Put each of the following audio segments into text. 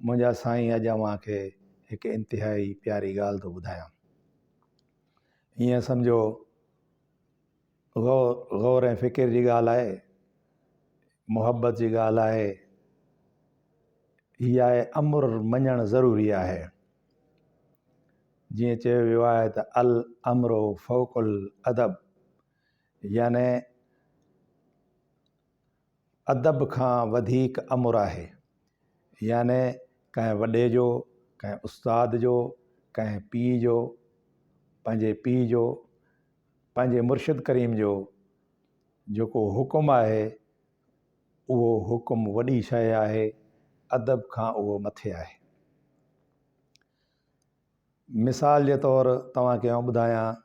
منهنجا سائين اڄ اوهان کي هڪ انتهائي پياري ڳالهه ٿو ٻڌايان. هيئن سمجهو غور غور ۽ فڪر جي ڳالهه آهي، محبت جي ڳالهه آهي، هي آهي امر مڃڻ ضروري آهي. جيئن چيو ويو آهي ته الامر فوق الادب يعني ادب کان وڌيڪ امر آهي يعني ڪنهن وڏي جو ڪنهن استاد جو ڪنهن پيء جو پنهنجي پيء جو پنهنجي مرشد ڪريم جو جيڪو حڪم آهي اهو حڪم وڏي شيء آهي ادب کان اهو مٿي آهي مثال جي طور توهان کي آئون ٻڌايان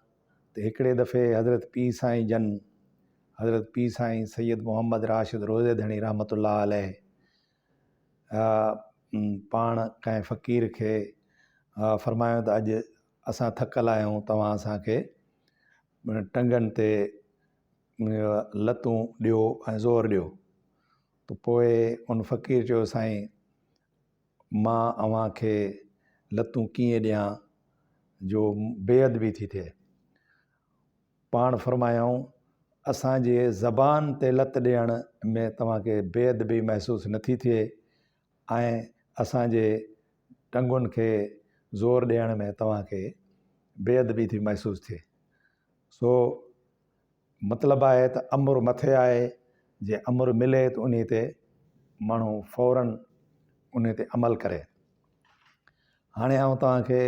ته هڪڙي دفعي حضرت پير سائين جن حضرت پير سائين سيد محمد راشد روضي ڌڻي رحمة الله عليه پاڻ ڪنهن فقير کي فرمايو ته اڄ اسان ٿڪل آهيون توهان اسان کي ٽنگن تي لتون ڏيو ۽ زور ڏيو ته پوء ان فقير چيو سائين مان اوهان کي لتون ڪيئن ڏيان جو بي ادبي ٿي ٿئي. پاڻ فرمايائون، اسان جي زبان تي لت ڏيڻ ۾ توهان کي بي ادبي محسوس نه ٿي ٿئي ۽ اسان جي ٽنگن کي زور ڏيڻ ۾ توهان کي بي ادبي ٿي محسوس ٿئي. سو مطلب آهي ته امر مٿي آهي، جي امر ملي ته انهي تي ماڻهو فوراً انهي تي عمل ڪري. هاڻي آئون توهان کي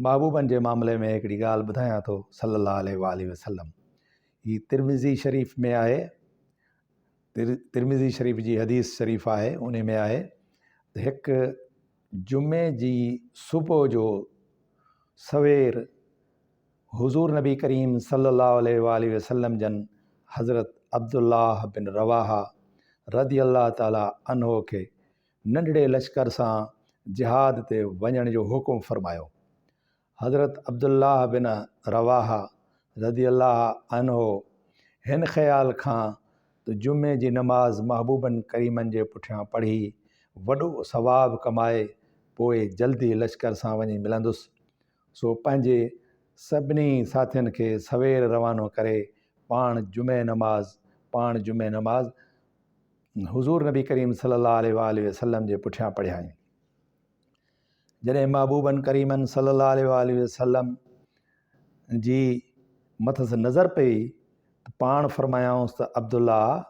محبوبن جي معاملي ۾ هڪڙي ڳالهه ٻڌايان ٿو صلّي الله عليه واٰله وسلّم هي ترمذي شريف ۾ آهي، ترمذي شريف جي حديث شريف آهي، انهي ۾ آهي ته هڪ جمعي جي صبح جو سوير حضور نبي ڪريم صلي الله عليه وآله وسلم جن حضرت عبدالله بن رواحه رضي الله تعالٰي عنه کي ننڍڙي لشڪر سان جهاد تي وڃڻ جو حڪم فرمايو. حضرت عبدالله بن رواحه رضي الله عنه هن خيال کان ته جمعي جي نماز محبوبن ڪريمن جي پٺيان پڙهي وڏو ثواب ڪمائي پوء جلدي لشڪر سان وڃي ملندس، سو پنهنجي سڀني ساٿين کي سوير روانو ڪري پاڻ جمعي نماز پاڻ جمعي نماز حضور نبي ڪريم صلي الله عليه واله وسلم جي پٺيان پڙهيائين جڏهن محبوبن ڪريمن صلي الله عليه واله وسلم جي مٿس نظر پئي ته پاڻ فرمايائونس ته عبدالله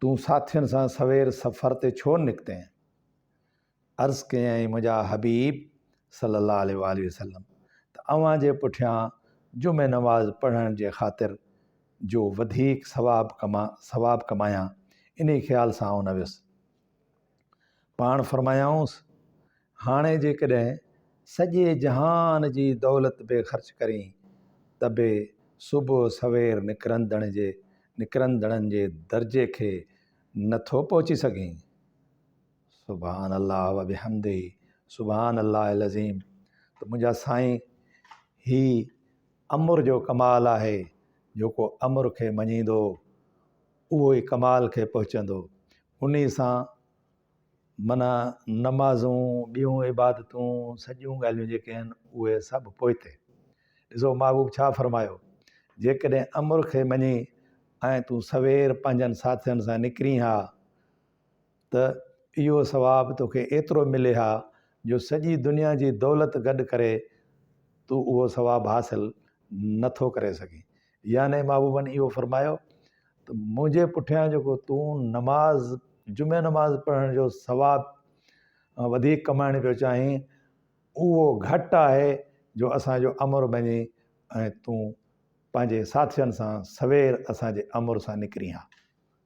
تون ساٿين سان سوير سفر تي ڇو نڪتين عرض ڪيائين منهنجا حبيب صلّي اللّٰه عليه واٰله وسلّم ته اوهان جي پٺيان جمعي نماز پڙهڻ جي خاطر جو وڌيڪ ثواب ڪما ثواب ڪمايان انهي خيال سان آئون نه ويس پاڻ فرمايائونس هاڻي جيڪڏهن سڄي جهان جي دولت به خرچ ڪرين ته به صبح سوير نڪرندڙ جي نڪرندڙن جي درجي کي نه ٿو پهچي سگهين. سبحان الله وبحمده سبحان الله العظيم ته منهنجا سائين هي امر جو ڪمال آهي جيڪو امر کي مڃيندو اهو ئي ڪمال کي پهچندو انهي سان منا نمازون ٻيون عبادتون سڄيون ڳالهيون جيڪي آهن اهي سڀ پوئتي ڏسو محبوب ڇا فرمايو جيڪڏهن امر کي مڃي ۽ تون سوير پنهنجن ساٿين سان نڪرين ها ته اهو ثواب توکي ايترو ملي ها جو سڄي دنيا جي دولت گڏ ڪري تون اهو ثواب حاصل نه ٿو ڪري سگهين يعني محبوبن اهو فرمايو ته منهنجي پٺيان جيڪو تون نماز جمعي نماز پڙهڻ جو ثواب وڌيڪ ڪمائڻ پيو چاهين اهو گهٽ آهي جو اسانجو امر مڃي ۽ تون پنهنجي ساٿين سان سوير اسانجي امر سان نڪرين ها